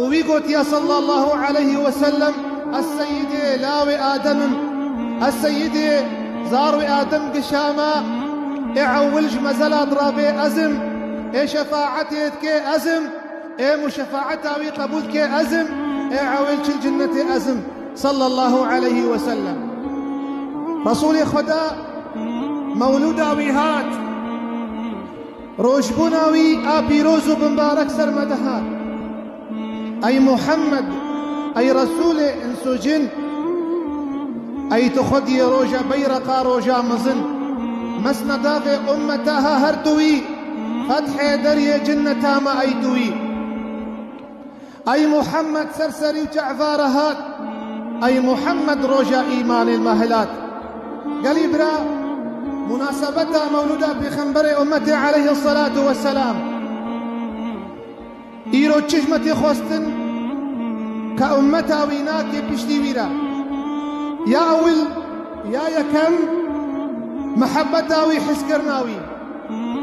û wî got ya sallallahu aleyhi we sellem ez seyîdê lawê Adem im ez seyîdê zarwê Adem gişa me ê ewil ji mezela diravê ez im ê şefaetê dikê ez im ê muşefaeta wî qebûl dikê ez im ê ewil çil cinnetê ez im sallallahu aleyhi we sellem Resûlê Xweda mewlûda wî hat Rojbûna wî a pîroz û bimbarek ser me dihat. Ey Muhammed, ey Resûlê ins û cin! Ey tu xwediyê roja beyreqa roja mizin, mesna davê ummeta ha her tu wî, fethê deriyê cinneta me ey tu wî. Ey Muhammed ser serî û ç'eva re hat. Ey Muhammed roja îmanê me hilat. Gelî bira, munasebeta mewlûda pêxemberê ummetê eleyhîsselatu wesselam. Îro çi hikmetê xwestin ke ummeta wî nake piştî wî re? Ya ewil, ya yekem mihebbeta wî, hiskirina wî.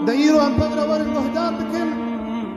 De îro em pevre werin guhdar bikin.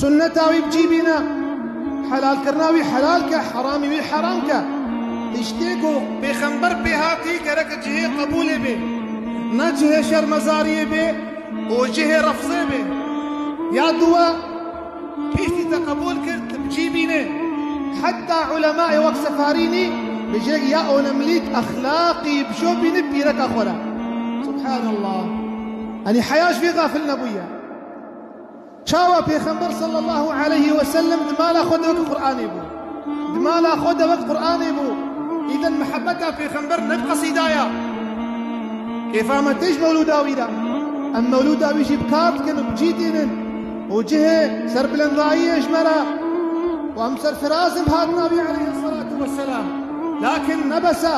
Sunneta wî bi cî bîne, helalkirina wî helal ke, heramî wî heram ke. Tiştê ku pêxember pê hatî gerek cihê qebûlê bê, ne cihê şermezariyê bê û cihê refzê bê. Ya dûwe, piştî te qebûl kir tu bi cî bînê. Heta ulemayê wek Sefarînî bijêk ya onemlîk exlaqî bişo bînî pîreka xwe re. Subhanallah! Enî heya ji vê gafil nebûye. Çawa Pêxember sallallahu aleyhi ve sellem di mala xwe de wek Quranê bû. Di mala xwe de wek Quranê bû. Îden mihebeta Pêxember ne bi qesîda ya. Kêfa me tê ji mewlûda wî de. Em mewlûda wî jî bi kar dikin û bi cî tînin û cihê serbilendayiyê ji me re û em serfiraz in bi hatina wî aleyhi selatu ve selam. Lakin ne bes e.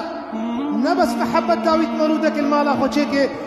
Ne bes mihebeta wî di mewlûdeke li mala xwe çêkê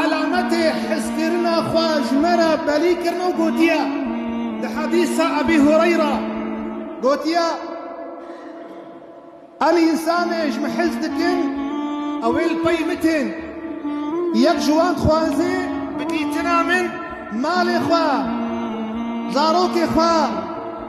Alametê hizkirina xwe ji me re belî kirin û gotiye, Di hedîsa Ebî Hureyra gotiye, Em însanê ji min hez dikin, ew ê li pey min tên. Yek ji wan dixwaze bi dîtina min malê xwe, zarokê xwe,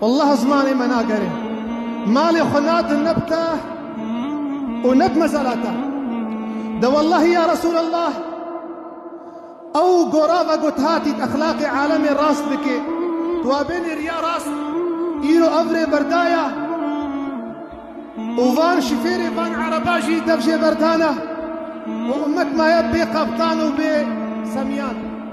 Wallah zimanê me nagere. Malê xwe nadin ne bi te û ne bi mezara te. De wellahî ya Resûlallah ew gora vegot hatît exlaqê alemê rast bikê. Tu wa bênê riya rast îro ev rê berdaya û van şifêrê van ereba jî dev jê berdana û ummet maye bê qebtan û bê semiyan.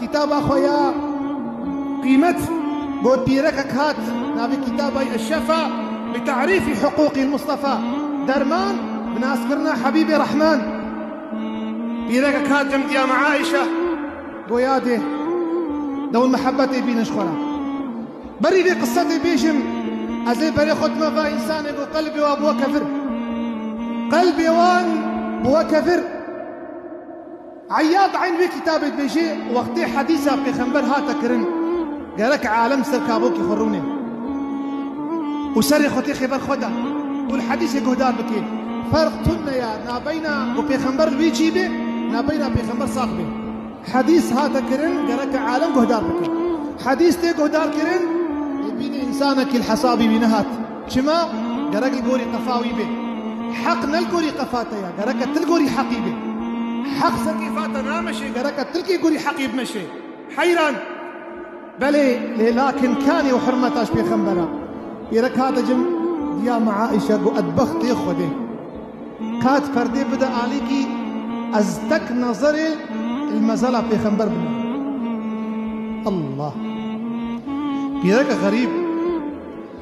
Kitaba xwe ya qîmet got dîrekek hat navê kitaba ye Eşşefa bi tarîfî hiqûqîl Mistefa Derman bi naskirina Hebîbê Rehman Dîrekek hat dem diya me Aîşe got ya dê dewr mihebetê bînin ji xwe re Berî vê qise dê bêjim ez ê berê xwe dime va însanê got qelbê wan bûye kevir Qelbê wan bûye kevir. Eyyad Eyn wê kitabê dibêje, Wextê hedîsa pêxember hate kirin, gerek alem ser kabokê xwe rûnê û serê xwe tê xê ber xwe de û li hedîsê guhdar bike. Ferq tune ye nabeyna ku pêxember li wî cî be nabeyna pêxember sax be. Hedîs hate kirin, gerek alem guhdar bike. Hedîs tê guhdarkirin, lê bînê însanekî li hesabê wî nehat. Çima? Gerek li gorî qefa wî bê. Heq ne li gorî qefa te ye, gereke tu li gorî heqî bê. Heq sekêfa te nameşê, gereke tu li kê gorî heqî bimeşê. Heyran! Belê, lê lakin kanê û hurmeta ji pêxember a. Îre ka dicim, diya me Aîşe got ez bextê Xwedê. Ka tu perdê bide alîkî, ez tek nezerê li mezela pêxember bime. Allah! Pîreke xerîb!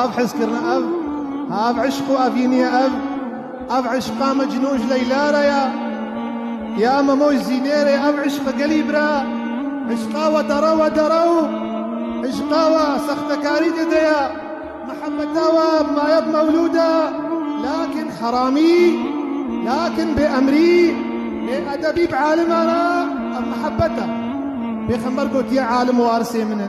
Ev hizkirina ev, ev eşq û evîniya ev, ev eşqa Mecnû ji Leyla re ye, ya Memo ji Zînê re ye, ev eşqa gelî bi re, eşqa weta re weta re û eşqa we sextekarî tê de ye, mihebeta we bi maye bi mewlûd e, lakin heramî, lakin bêemrî, bêedebî bi aliman e, ev mihebet e. Pêxember gotiye alim warisê min e.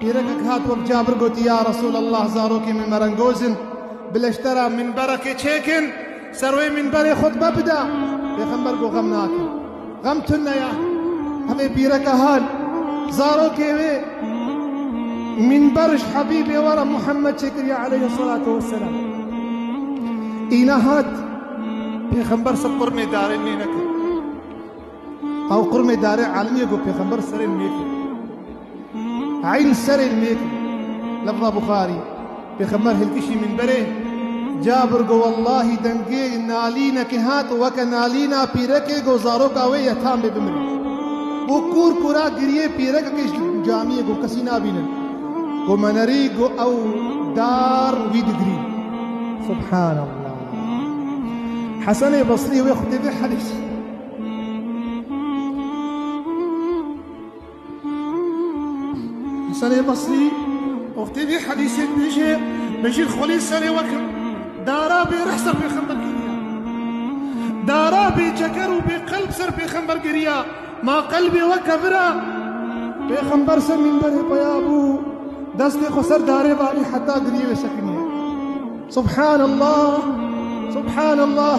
Pîrekek hat wek Cabir gotî ya Resûlallah zarokê min merengoz in bi leştera mînberekê çêkin ser wê mînberê xutbe bida. Pêxember got xem nakim. Xem tune ya. Hemê pîreke hal zarokê wê mînber ji Hebîbê were Muhammed çêkiriye aleyhi selatu weselam. Îna hat Pêxember ser qurmê darê nê nekir. Ew qurmê darê Eliyê got Pêxember serê nê kir. Eyn serê mir lafza Buxarî, Pêxember hilkişî mînberê Cabir got, Wellahî dengê nalînekê hat weke nalîna pîrekê got zaroka wê ye tam bê bimire. Got kûr kûra giriyê pîrekekê ji camiyê got kesî nabîne. Got me nerî got ew dar wî digirî. Subhanallah. Hesenê Basrî wê xwedê vê herî. Serê Basrî oftê vê hedîsê dibêje Bejîr xolê serê weke dara bê rih ser pêxember geriya. Dara bê ceger û bê qelb ser pêxember geriya. Ma qelbê weke vira pêxember ser mînberê xwe ya bû destê xwe ser darê valî heta giriyê wê sekiniye. Subhanallah Subhanallah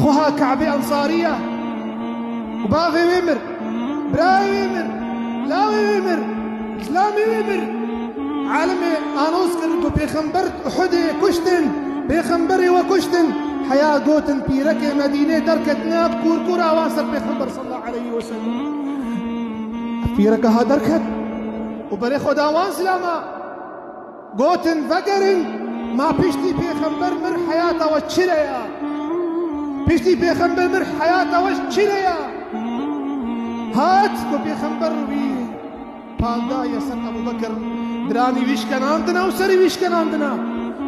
Xweha Kabê Ensarî ya û bavê wê mir, birayê wê mir, lawê wê mir, zilamê wê mir. Alimê anos kir ku pêxember di Uhudê kuştin, pêxemberê we kuştin. Heya gotin pîrekê Medînê derket nav kûrkûra wan ser pêxember sallallahu aleyhi ve sellem. Ev pîreke ha derket û berê xwe da wan zilama. Gotin vegerin ma piştî pêxember mir heyata we çi re ya? Piştî pêxember mir heyata we çi re ya? Hat ku pêxember wî paldaye ser Ebu Bekir diranî wî şkenandina û serî wî şkenandina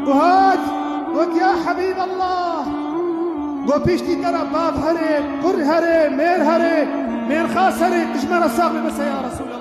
û hat got ya Hebîb Allah got piştî te re bav herê, kur herê, mêr herê, mêrxas herê, dijmera sax bibise ya Resûl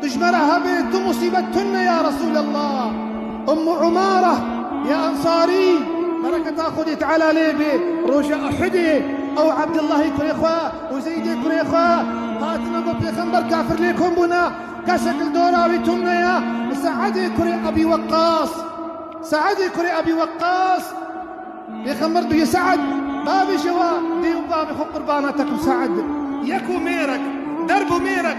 Tu ji me re hebê, tu musîbet tun ne ya Resûlallah. Ummu Umare ya Ensarî bereketa Xwedê Teala lê bê roja Uhudê ew Ebdillahê kurê xwe û Zeydê kurê xwe hatine bo pêxember kafir lê kom bûne kesek li dora wî tun ne ye bi Seedê kurê Ebî Weqqas Seedê kurê Ebî Weqqas pêxember duyê Seed bavê jê we dê û bavê xwe qurbana te ku Seed yek û mêrek derb û mêrek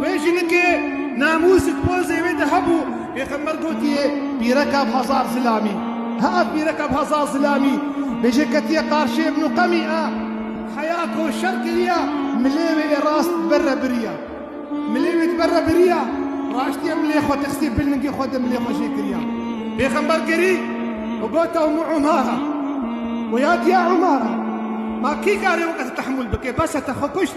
Wê jinikê namûsik pozê wê de hebû. Pêxember gotiye pîreka bi hezar zilamî. Ha ev pîreka bi hezar zilamî bêje ketiye qarşiyê min û qemî a heya ko şer kiriya milê wê ê rast di ber re biriya. Milê wê di ber re biriya raştiye milê xwe xistiye bil ningê xwe de milê xwe jê kiriya. Pêxember gerî û got ew min Umara wê ya diya Umara ma kî kare weke te tehmûl bike bes e te xwe kuşt.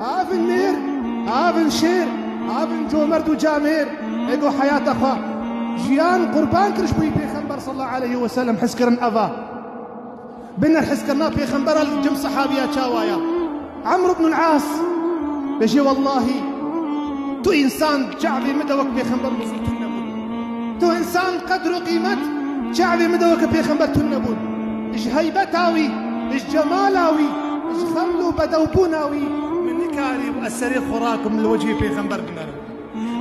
Havin mêr, havin şêr, havin comerd û camêr ego heyata xwe jiyan qurban kiriş bo wî Pêxember sallallahu aleyhi ve sellem hizkirin eva. Biner hizkirina Pêxembera li cem sehabiya çawa ya. Emr ibn As bejê wellahî tu însan çavê min de wek Pêxember bû tune bû. Tu însan qedr û qîmet çavê min de wek Pêxember tune bû. Ji heybeta wî, ji cemala wî, ji xeml û bedewbûna wî min nikarî bû ez serê xurakim li wecihê pêxember binerim.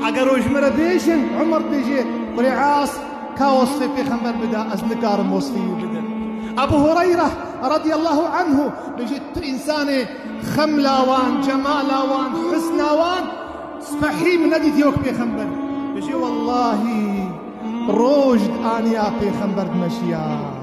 Eger û ji min re bêjin Umar bêje kurê As ka wesfê pêxember bida ez nikarim wesfê wî bidim. Ebû Hureyre radîyallahu anhu bêje tu însanê xemla wan, cemala wan, husna wan spehî min nedîtiye wek pêxember. Bêje wellahî roj di aniya pêxember dimeşiya.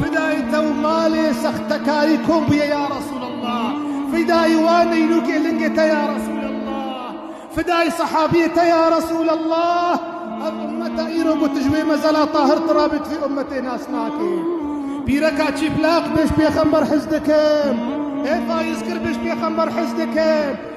Fidayê te û malê sextekarî kom bûye ya Resûlallah, fidayê wan nînûkê lingê te ya Resûlallah, fidayê sehabiyê te ya Resûlallah, ev ummeta îro ku tu ji wê mezela tahir tirabe tu vê ummetê nas nake. Pîreka çîplaq bêj pêxember hez dikim, ê fayizkir bêj pêxember hez dikim.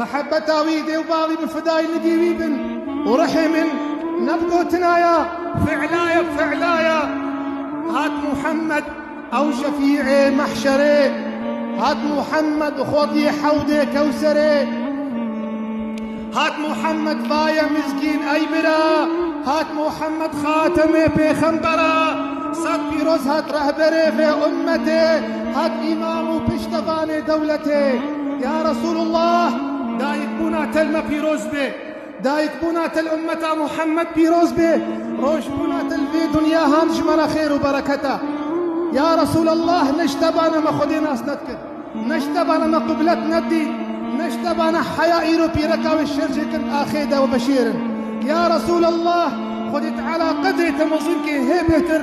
Mehebeta wî dê û bavî bi fidayî nigî wî bin û rihê min ne bi gotina ya fi'laya fi'laya hat Muhammed ew şefî'ê mehşerê hat Muhammed bi xortiyê hewdê kewserê hat Muhammed vaye mizgîn ey bira hat Muhammed xatemê pêxembera sed pîroz hat rehberê vê ummetê Hak îmam û piştevanê dewletê ya Resûlullah dayikbûna te li me pîroz be, dayikbûna te li ummeta Muhammed pîroz be, rojbûna te li vê dinya han ji me re xêr û bereket e. Ya Resûlullah ne ji te bane me Xwedê nas nedikir, ne ji te bane me qiblet nedît, ne ji te bane heya îro pîreka wê şer jê kir axê de we veşêrin. Ya Resûlullah Xwedê Teala qedrê te mezin kê hê bêhtir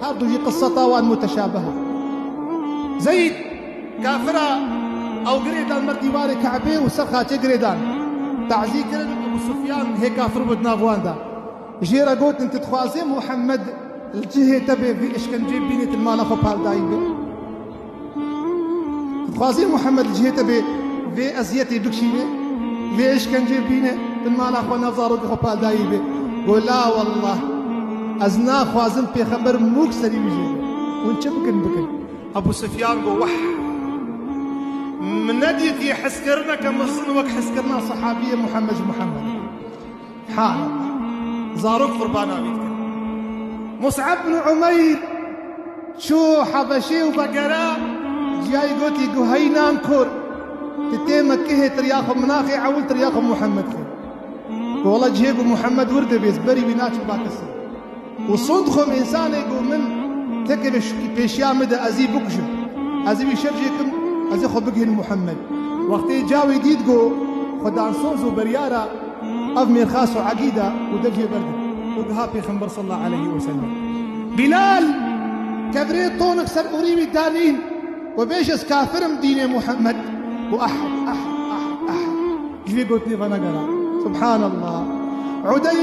Her du jî qiseta wan muteşabih e. Zeyd kafira ew girê dan ber dîwarê Kabê û ser xaçê girê dan. Tazî kirin Ebû Sufyan hê kafir bû di nav wan de. Jê re gotin tu dixwazê Muhammed li cihê te bê vê îşkenceyê bînî tu li mala xwe pal dayî bê? Dixwazê Muhammed li cihê te bê vê eziyetê bikişîne, vê îşkencê bîne bin mala xwe nav zarokê xwe paldayî be. Got la wallah ez naxwazim pêxember mûk serî wî jê be. Hûn çi bikin bikin. Ebû Sufyan got weh min nedîtiye heskirina ke mixzin wek heskirina sehabiyê Muhammed ji Muhammed e. Hal, zarok qurbana wî dikin. Mus'eb bin Umeyr çû Hebeşê û vegera ciyayê gotî ku hey nan kur tu tê Mekkehê tiriya xwe min axê ewil tiriya xwe Muhammed xwe. Ku wela cihê ku Muhammed wir dibê ez berî wî naçim ba kesin. Û son dixwim însanê ku min tekeve pêşiya mide ez î bikujim, ez ê wî şer jê kim, ez ê xwe bigihînim Muhemmed. Wextê cawê dît ku xwedansoz û beryar e, ev mêrxas û egîd e û dev jê berdin û giha Pêxember salla eleyhî weselem. Bilal, kevirê tonik ser orî wî danîn û bêj ez kafir im dînê Muhemmed û ah ah ah ah ji vê gotinê venegera. Subhanallah. Udey.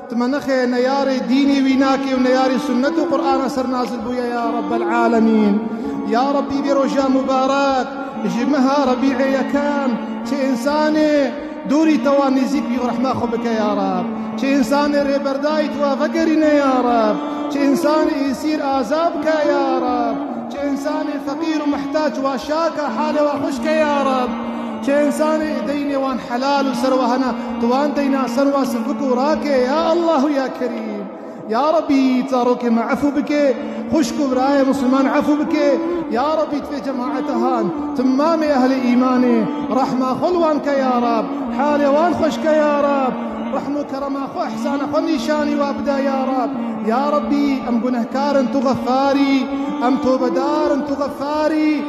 Timenixê neyarê dînî wî nakê û neyarê sunnet û Qur'ana ser nazil bûye ya Rabbel Alemîn. Ya Rabbî vê roja mubarek ji meha Rebî'ê yekem çi însanê dûrî te wan nêzîk bî û rehma xwe bike ya Rabb. Çi însanê rêberdayî tu wan vegerîne ya Rabb. Çi însanê îsîr aza bike ya Rabb. Çi însanê feqîr û mihtac wan şaka halê wan xweş ke ya Rabb. Kên zanê deynê wan helal û ser wiha ne, tu wan deyna ser wa sivik û rake ya Allah û ya Kerîm. Ya Rabbî zarokê me efû bike, xwişk û birayê Musilman efû bike, ya Rabbî divê cemaetehan, timamê ehlê îmanê rehma xwe li wan ke ya Rabb, halê wan xweş ke ya Rabb, rehm û kerema xwe îhsana xwe nîşanî wa bide ya Rabb. Ya Rabbî em gunehkar in tu xefarî, em tobedar in tu xefarî.